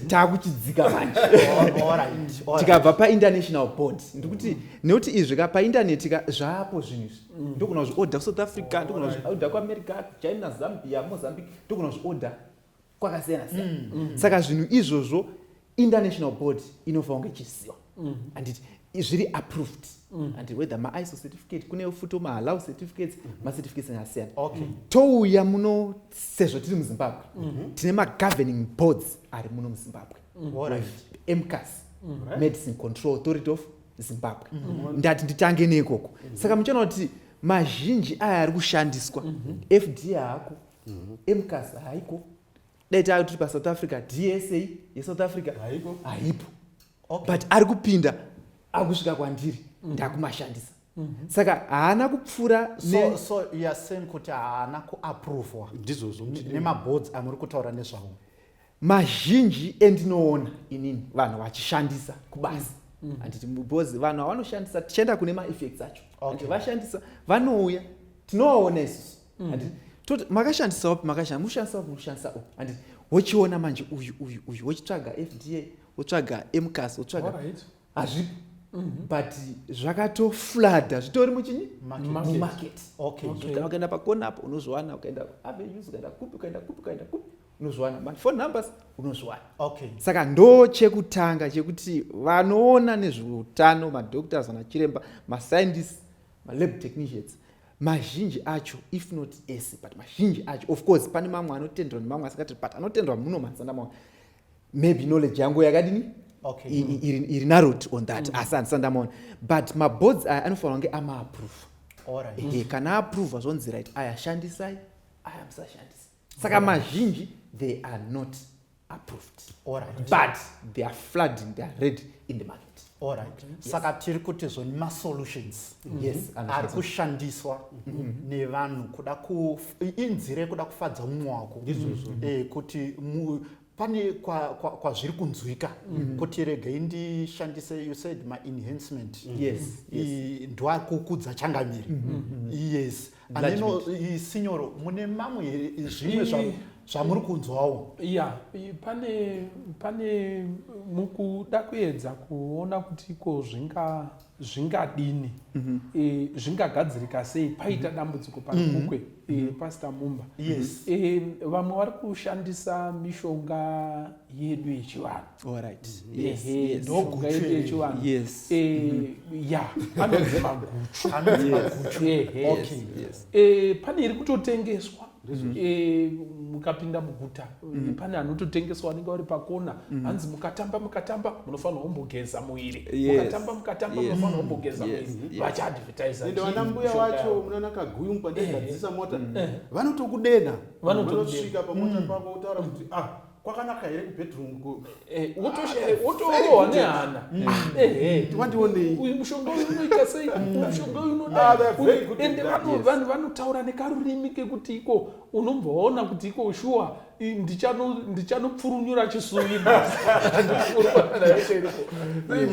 takuchidzika manjetikabva painternational board ndikuti nekuti izvi ka paintaneti ka zvapo zvinhu izvi mm. ndogona kuzvioda kusouth africa ndogona kuzvioda kuamerica china zambia mozambique ndogona kuzvioda kwakasiyana siyana mm. mm. saka zvinhu izvozvo international board inofanira kunge ichiziva mm. anditi zviri approved mm. and whether maiso certificate kune futo mahallow certificates mm -hmm. macertificates akasiyana okay. mm. touya muno sezvo tiri muzimbabwe mm -hmm. tine magoverning boards ari muno muzimbabwe mm. right. mcas mm. right. medicine control authority of zimbabwe mm -hmm. ndati nditange neikoko mm -hmm. saka muchiona kuti mazhinji aya ari kushandiswa mm -hmm. fd ako mhm. mcas haiko dai tava tiri pasouth africa dsa yesouth africa haipo but ari kupinda akusvika kwandiri mhm. ndakumashandisa mhm. saka haana kupfuura so yaseni kuti haana kuaprovwa ndizvozvo nemaboards amuri kutaura nezvawo mazhinji endinoona inini vanhu vachishandisa kubasa mm. mm. handiti because vanhu havanoshandisa tichienda kune maeffects acho okay. vashandisa vanouya tinovaona isusu mm. handiti toti makashandisa wapi makashandisa mushandisa wapi mushandisa o handiti wochiona manje uyu uyu uyu wochitsvaga fda wotsvaga mcas wotsvaga hazvipo mhm. but zvakatoflada zvitori muchinyi mumarket ukaenda pakona apo unozviwana ukaenda avenues ukaenda kupi ukaenda kupi ukaenda kupi unozviwana but phone numbers unozviwana okay saka ndo chekutanga chekuti vanoona nezveutano madoctors anachiremba mascientists malab technicians mazhinji acho if not ese but mazhinji acho of course pane mamwe anotendwa nemamwe asikati but anotendwa muno mazana mamwe maybe knowledge yangu yakadini okay. iri narot on that mm. asi andisandamaona but maboards aya anofanira kunge amaaprova right. e, kana aprova zvonzi right aya shandisai aya musashandisa saka mazhinji they are not approved Alright. but they are flooding they are ready in the market Alright. Yes. saka tiri kuti zvoni masolutions mm-hmm. yes, ari kushandiswa mm-hmm. nevanhu kuda inzira yekuda kufadza mumwe wako mm-hmm. eh, kuti pane kwazviri kunzwika mm-hmm. kuti regei ndishandise you said maenhancement mm-hmm. yes, yes. ndoakukudza changamire mm-hmm. yes mm-hmm. aneno sinyoro mune mamwe here zvimwe zvamuri kunzwawo ya pane pane mukuda kuedza kuona kuti iko zvinga zvingadini mhm. e, zvingagadzirika sei paita mhm. dambudziko parikukwe mhm. e, pasita mumba e, vamwe vari kushandisa mishonga yedu yechivanhu pane iri kutotengeswa mm-hmm. eh, mukapinda muguta mm. pane anototengeswa anenge ari pakona mm. hanzi mukatamba mukatamba munofanira kumbogeza muiri mukatamba mukatamba munofanira kumbogeza muiri vachiadvertisaende vana mbuya wacho munaona kaguyu mupandegadzisa mota mm. eh. vanotokudenha vanosvika pamota mm. pavo otaura kuti ah kwakanaka here kubedroom wotorohwa nehana wandionei uyu mushonga uyu unoita sei mushonga uyu unodaende vanhu vanotaura nekarurimi kekuti iko unobva waona kuti iko shuwa ndichanopfurunyura chisuvi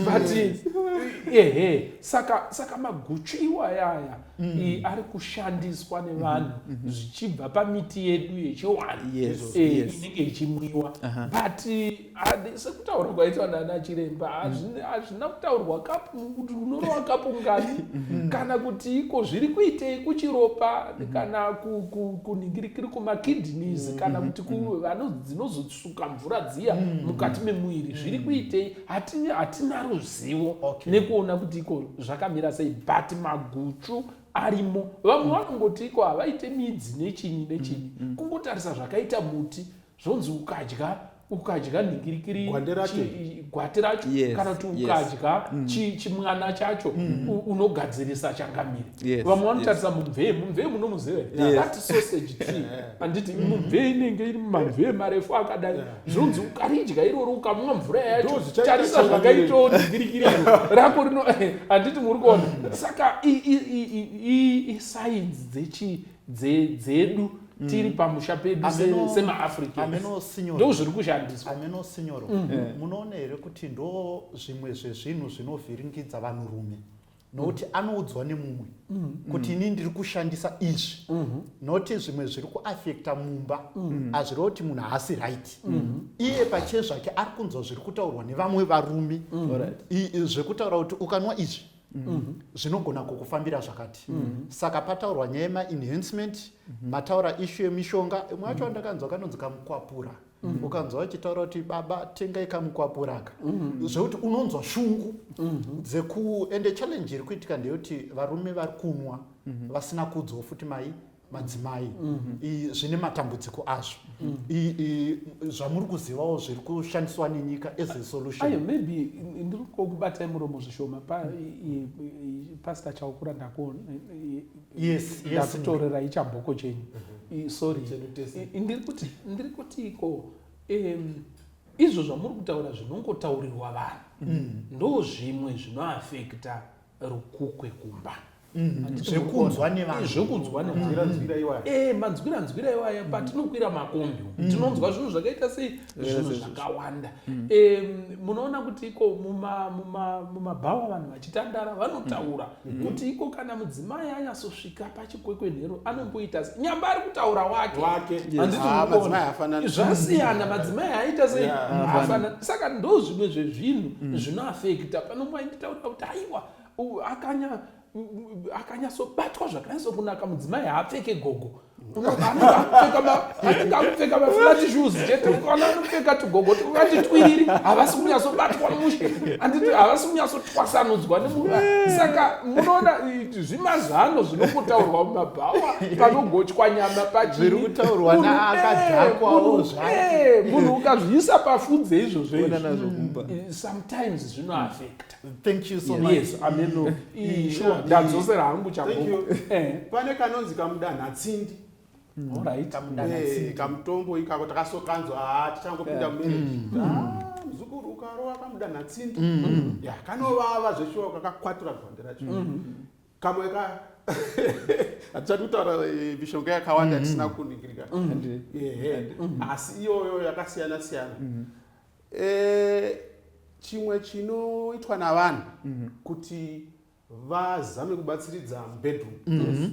but ehe saka maguchu iwayaya mm. iyi ari kushandiswa nevanhu mm-hmm. mm-hmm. zvichibva mm -hmm. pamiti yedu yechiwani yes, e, yes. inenge ichimwiwa uh -huh. but uh, sekutaurwa kwaitwa nana chiremba hazvina mm. kutaurwa kapu kuti unorowa kapu ngani mm-hmm. kana kuti iko zviri kuitei kuchiropa mm -hmm. kana kuningirikiri ku, ku, kumakidneys mm -hmm. kana kuti dzinozotsuka mvura dziya mm -hmm. mukati memuviri zviri kuitei hatina hatina ruzivo okay. nekuona kuti iko zvakamira sei but maguchu arimo vamwe mm. vanongoti iko havaite midzi nechinyi nechinyi mm. mm. kungotarisa zvakaita muti zvonzi ukadya ukadya nhingirikiri gwati racho yes, kana kuti ukadya yes. Mm. chi, chimwana chacho mm. unogadzirisa changamire yes, vamwe vanotarisa yes. mumvee mumvee munomuziva yes. that sausage tree handiti mm. mumvee inenge iri mumamvee marefu akadai yeah. zvinonzi ukaridya irori ukamwa mvura yacho tarisa zvakaitawo ndigirikiriro rako rino handiti muri kuona saka isainzi dzechi dzedu tiri mm. pamusha pedu semaafricando zviri kushandiswa ameno sinyoro mm. eh. munoona here kuti ndo zvimwe zvezvinhu zvinovhiringidza vanhurume nokuti anoudzwa nemumwe mm-hmm. kuti ini ndiri kushandisa izvi mm-hmm. noti zvimwe zviri kuafekta mumba mm-hmm. hazvireva kuti munhu haasi right iye pachiye zvake ari kunzwa zviri kutaurwa nevamwe varume zvekutaura kuti ukanwa izvi zvinogona kukufambira zvakati saka pataurwa nyaya yemaenhancement mataura ishu yemishonga imwe yacho andakanzwa kanonzi kamukwapura mm -hmm. Mm. ukanzwa vachitaura kuti baba tengai kamukwapuraka mm. zvekuti unonzwa shungu mm-hmm. dzeku ende challenge iri kuitika ndeyekuti varume vari kunwa mm-hmm. vasina kudzwa futi mai madzimai mm-hmm. zvine matambudziko azvo zvamuri kuzivawo zviri kushandiswa nenyika as a solution maybe ndiri kokubatai muromo zvishoma pastor chaukura ndako yes ndakutorera yes, ichabhoko chenyu mm -hmm. sorry ndiri kuti ndiri kuti iko um, izvo zvamuri kutaura zvinongotaurirwa vanhu mm. ndo zvimwe zvinoafekta rukukwe kumba mm-hmm. zvekunzwa nevanhuzvekunzwa nevanhuzvira iwaya eh, manzwira nzwira iwaya mm-hmm. patinokwira makombi mm-hmm. tinonzwa zvinhu zvakaita sei zvinhu zvakawanda munoona kuti iko mumabhawa vanhu vachitandara vanotaura mm. Mm. kuti iko kana mudzimai anyasosvika pachikwekwenhero anomboita nyamba ari kutaura wake zvasiyana madzimai aita sei afanana saka ndo zvimwe zvezvinhu mm. zvinoafekta pano mwainditaura kuti aiwa akanya akanyatsobatwa zvakanatso kunaka mudzimai haapfeke gogo anenge akupfeka maflati shoes chete ukaona anopfeka tugogo tukati twiriri havasi kunyatsobatwa mushe anditi havasi kunyatsotwasanudzwa nemuva saka munoona zvimazano zvinongotaurwa mumabhawa panogochwa nyama pachiriutaurwanaakadhakwaomunhu ukazviisa pafudze izvozvo sometimes zvinoafekta Thank you so much. Yes, ameno. Mm, sure. Ndadzosera hangu chakombo. Eh. Pane kanonzi kamudana tsindi. Mm. All right. Kamudana eh, tsindi. Kamutombo ikako takasokanzwa ah tichangopinda mu marriage. Mm. Ah, mzukuru ukarowa kamudana tsindi. Yeah, kanovava zveshuwa kakakwatura gonde racho. Kamwe ka hatichati kutaura eh, mishonga yakawanda tisina kuningirika. Asi iyoyo yakasiyana siyana. Eh, chimwe chinoitwa navanhu mhm. kuti vazame kubatsiridza mubedroom mhm.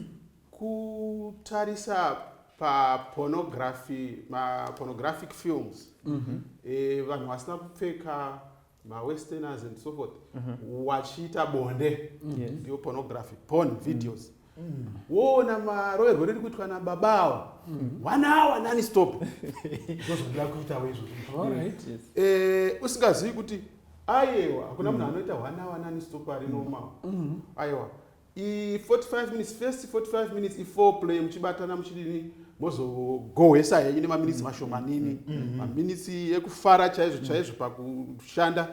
kutarisa papornography mapornographic films mhm. eh, vanhu vasina kupfeka mawesterners and so forth wachiita bonde ndiyo pornography porn videos woona maroyerwo riri kuitwa nababa awo one hour nani stop ndozvandira kuitawo izvo eh, usingazivi kuti ayewa hakuna munhu anoita one hour nani stop ari normal ayewa i45 minutes first 45 minutes i4 play muchibatana muchidini mozogohwesa henyu nemaminitsi mashomanini mm, mm, mm, maminitsi ekufara chaizvo chaizvo pakushanda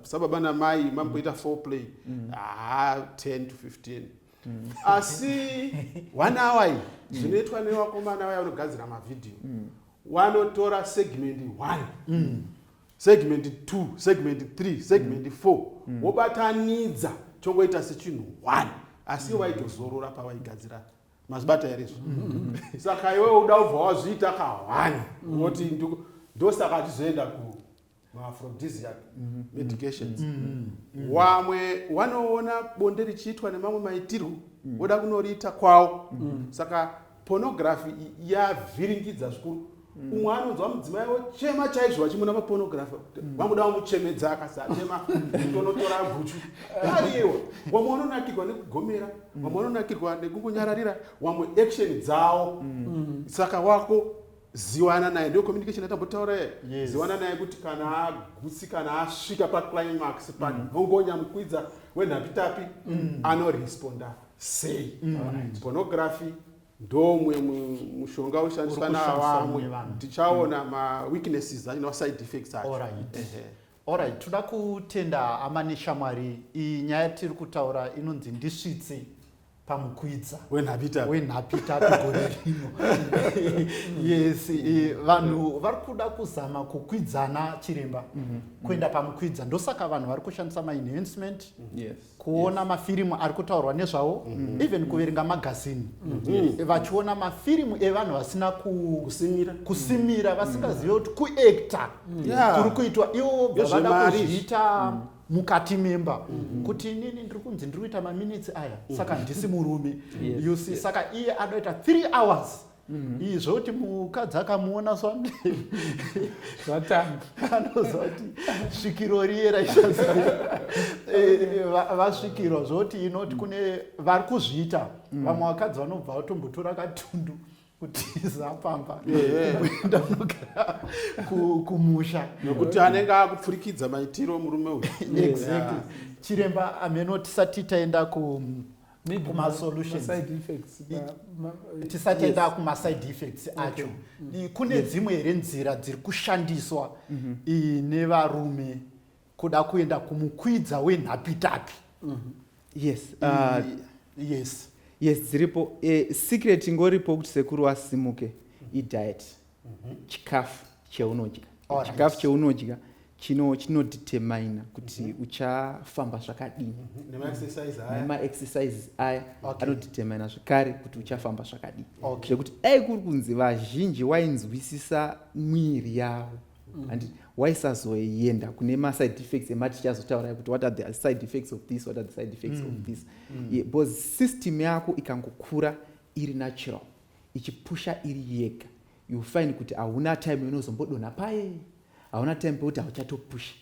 sababa namai mamboita 4 play haa 10 to 15 mm. asi one hour iyi mm. zvinoitwa mm. nevakomana vaya vanogadzira mavhidhiyo mm. wanotora segment one mm. segment two segment three segment mm. four mm. wobatanidza chongoita sechinhu one asi mm. waitozorora pavaigadzira mazibata here izvo mm -hmm. saka iwe uda ubva wazviita kahwani mm. woti ndosaka tizoenda ku maaphrodisiac mhm. medications mhm. Mhm. wamwe wanoona bonde richiitwa nemamwe maitirwo voda kunoriita kwawo saka pornography yavhiringidza zvikuru umwe anonzwa mudzimai ochema chaizvo vachimuna mapornography vanguda vamuchemedza akasachema tonotora guchu ariwa wamwe vanonakirwa nekugomera wamwe vanonakirwa nekungonyararira wamwe action dzawo saka wako ziwana naye ndiyo communication yatambotaura ye yes. ziwana naye kuti kana agutsi kana asvika paclimax panhongonya mm. mukwidza wenhapitapi mm. anoresponda sei mm. right. pornography ndomwe mushonga ushandiswa navamwe tichaona mm. maweaknesses acho nemaside effects acho right. Alright, toda kutenda hama neshamwari. Iyi nyaya yatiri kutaura inonzi ndisvitse pamukwidza wenhapita wenhapita gore rino. Yes, eh, vanhu vari kuda kuzama kukwidzana chiremba kuenda pamukwidza. Ndosaka vanhu vari kushandisa ma enhancement. Yes. kuona mafirimu ari kutaurwa nezvawo mhm. even kuverenga magazini mhm. eh, vachiona mafirimu evanhu vasina kusimira vasingazive kuti kuekta mhm. kuri kuitwa iwo bvavada kuzviita mukati memba kuti inini ndiri kunzi ndiri kuita maminitsi aya saka ndisi murume you see saka iye anoita three hours Mm. izvo kuti mukadzi akamuona swambe zvatanga anoziva kuti svikiro riye raisaziva eh, vasvikirwa zvokuti inoti kune vari kuzviita mm. vamwe vakadzi vanobva vatombotora katundu kutiza pamba kuenda mugara kumusha nokuti anenge akupfurikidza maitiro murume uyu exactly chiremba ameno tisati taenda ku tisatenda kumaside effects acho mm. kune dzimwe here nzira dziri kushandiswa mm-hmm. nevarume kuda kuenda kumukwidza wenhapitapi mm-hmm. yes uh, yes yes dziripo eh, secret ingoripo kuti sekuru asimuke idiet mhm. chikafu cheunodya chikafu cheunodya chino chinodetermina kuti mhm. uchafamba zvakadini mhm. nemaexercises aya anodetermina zvekare kuti uchafamba zvakadini zvekuti dai kuri kunzi vazhinji wainzwisisa mwiri yavo and mm -hmm waisazoenda kune maside effects emati tichazotaura kuti what are the side effects of this what are the side effects mm. of this mm. yeah, because system yako ikangokura iri natural ichipusha iri yega you find kuti hauna time inozombodonha paye hauna time pekuti hauchatopusha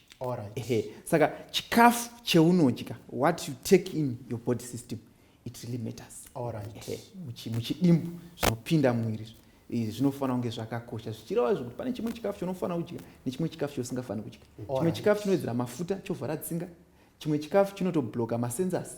ehe saka chikafu cheunodya what you take in your body system it really matters ehe muchidimbu zvinopinda muviri zvinofanira kunge zvakakosha zvichireva zvekuti pane chimwe chikafu chaunofanira kudya nechimwe chikafu chausingafaniri kudya chimwe chikafu chinowedzera mafuta chovhara tsinga chimwe chikafu chinotobloka masensors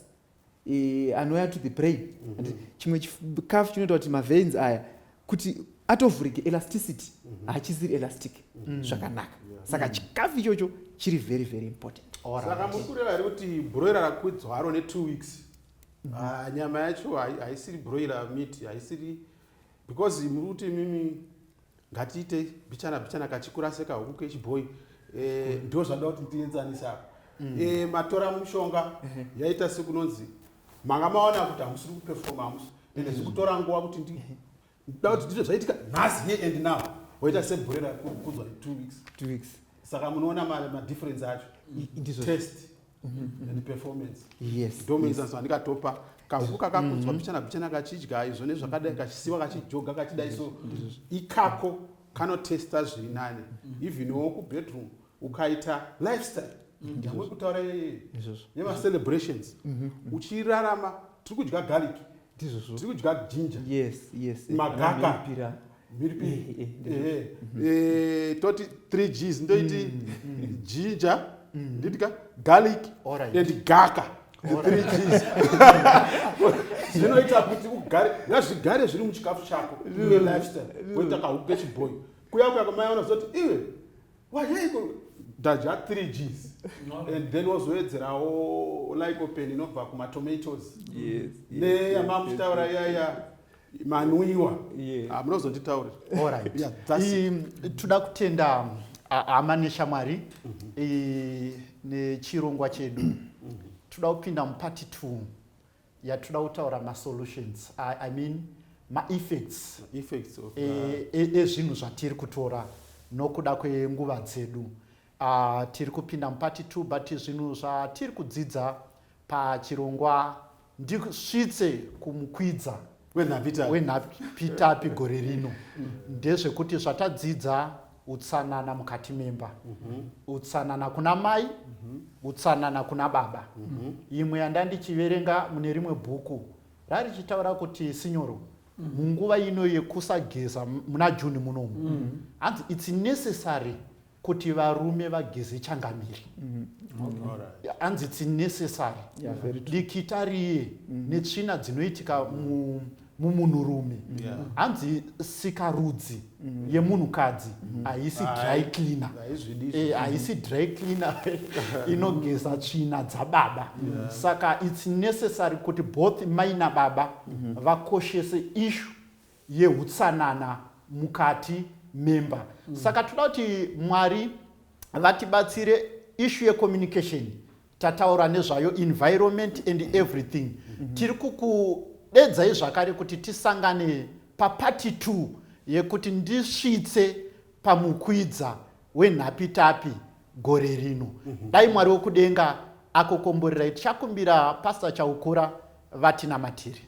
e, anouya to the brain mm -hmm. chimwe chikafu chinoita kuti maveins aya kuti atovhurike elasticity mm -hmm. hachisiri elastic mm -hmm. zvakanaka yeah. saka mm -hmm. chikafu ichocho chiri very very important saka muri kureva here kuti broiler rakwidzwa haro netwo weeks mm -hmm. uh, nyama yacho haisiri broiler meat haisiri because muri kuti mimi ngatiite bichana bichana kachikura sekahuku kechibhoyi eh, ndo zvanda kuti ndienzanisa apa mm. eh, matora mushonga mhm. yaita sekunonzi manga maona kuti hamusiri kupefoma hamusi ende zviri kutora nguva kuti ndi mhm. da kuti ndizvo zvaitika nhasi here and now woita sebhurera kudzwa two weeks two weeks saka munoona madifference acho mm. test Mm-hmm. and performance yes ndomenza yes. zvandikatopa kahuku kakakudzwa mm-hmm. pichana pichana kachidya izvo nezvakadai kachisiwa kachijoga kachidai so ikako kanotesta zviri nani mm-hmm. even wo kubedroom ukaita lifestyle yamwe kutaura yemacelebrations uchirarama tiri kudya garlic tiri kudya ginger magaka toti 3 gs ndoiti ginger nditika garlic and gaka zvinoita kuti ugare ngazvigare zviri muchikafu chako uye lifestyle woita kahuku kechibhoyi kuya kuya kwamai vanozoti iwe wayeiko dadya 3 gs and then wozoedzerawo lycopene inobva kumatomatoes neyamamuchitaura iyaya manwiwa ah, munozonditaurira toda kutenda ah, hama neshamwari mhm. nechirongwa chedu mhm. toda kupinda mupati t yatoda kutaura masolutions i mean maeffects ezvinhu e, e, zvatiri kutora nokuda kwenguva dzedu Ahh tiri kupinda muparty two but zvinhu zvatiri kudzidza pachirongwa ndisvitse kumukwidza Wenhapitapi. wenhapitapi gore rino ndezvekuti zvatadzidza utsanana mukati memba utsanana kuna mai utsanana kuna baba imwe yanda ndichiverenga mune rimwe bhuku rarichitaura kuti sinyoro munguva ino yekusageza m- muna june munomu hanzi its necessary kuti varume vageze changamire hanzi its necessary dikita riye mm. netsvina dzinoitika mu mumunhurume hanzi sikarudzi mm. yemunhukadzi mm. haisi dry cleaner eh, haisi dry cleaner inogeza tsvina dzababa saka its necessary kuti both mai nababa mm-hmm. vakoshese ishu yehutsanana mukati memba mm. saka toda kuti mwari vatibatsire ishu yecommunication tataura nezvayo environment and everything mm -hmm. tiri kukudedzai zvakare kuti tisangane papati t yekuti ndisvitse pamukwidza wenhapitapi gore rino mm -hmm. dai mwari wekudenga akokomborerai tichakumbira pasta chaukura vatinamatiri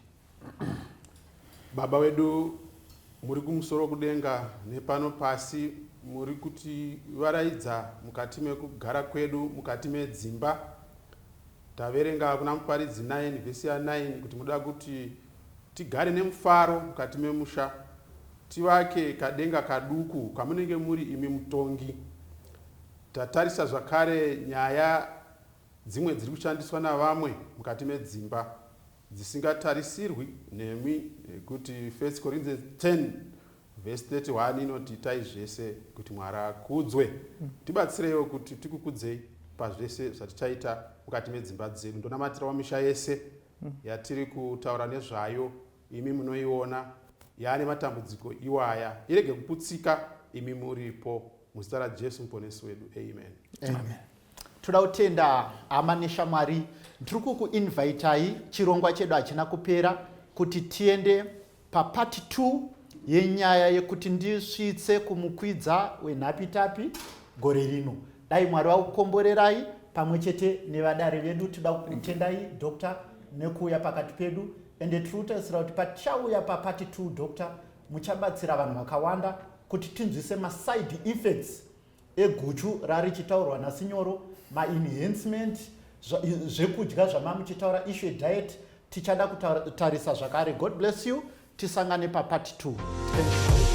Baba wedu muri kumusoro kudenga nepano pasi muri kuti varaidza mukati mekugara kwedu mukati medzimba taverenga kuna muparidzi 9 vhesi ya 9 kuti munoda kuti tigare nemufaro mukati memusha tivake kadenga kaduku kamunenge muri imi mutongi tatarisa zvakare nyaya dzimwe dziri kushandiswa navamwe mukati medzimba dzisingatarisirwi nemi nekuti 1 Corinthians 10 vhesi 31 inoti itai zvese kuti mwari akudzwe mm. tibatsireiwo kuti tikukudzei pazvese zvatichaita mukati medzimba dzedu ndonamatirawo misha yese mm. yatiri kutaura nezvayo imi munoiona yaane matambudziko iwaya irege kuputsika imi muripo Muzita raJesu muponesi wedu. Amen. Amen. Toda kutenda hama neshamwari. Ndiri kukuinvitai chirongwa chedu hachina kupera kuti tiende papart 2 yenyaya yekuti ndisvitse kumukwidza wenhapitapi gore rino. Dai Mwari vakukomborerai pamwe chete nevadare vedu. Toda kukutendai doctor nekuuya pakati pedu ende tiri kutarisira kuti patichauya papart 2 doctor muchabatsira vanhu vakawanda kuti tinzwise maside effects eguchu rarichitaurwa nasinyoro maenhancement zvekudya zvamamuchitaura issue diet tichada kutarisa zvakare god bless you tisangane papart 2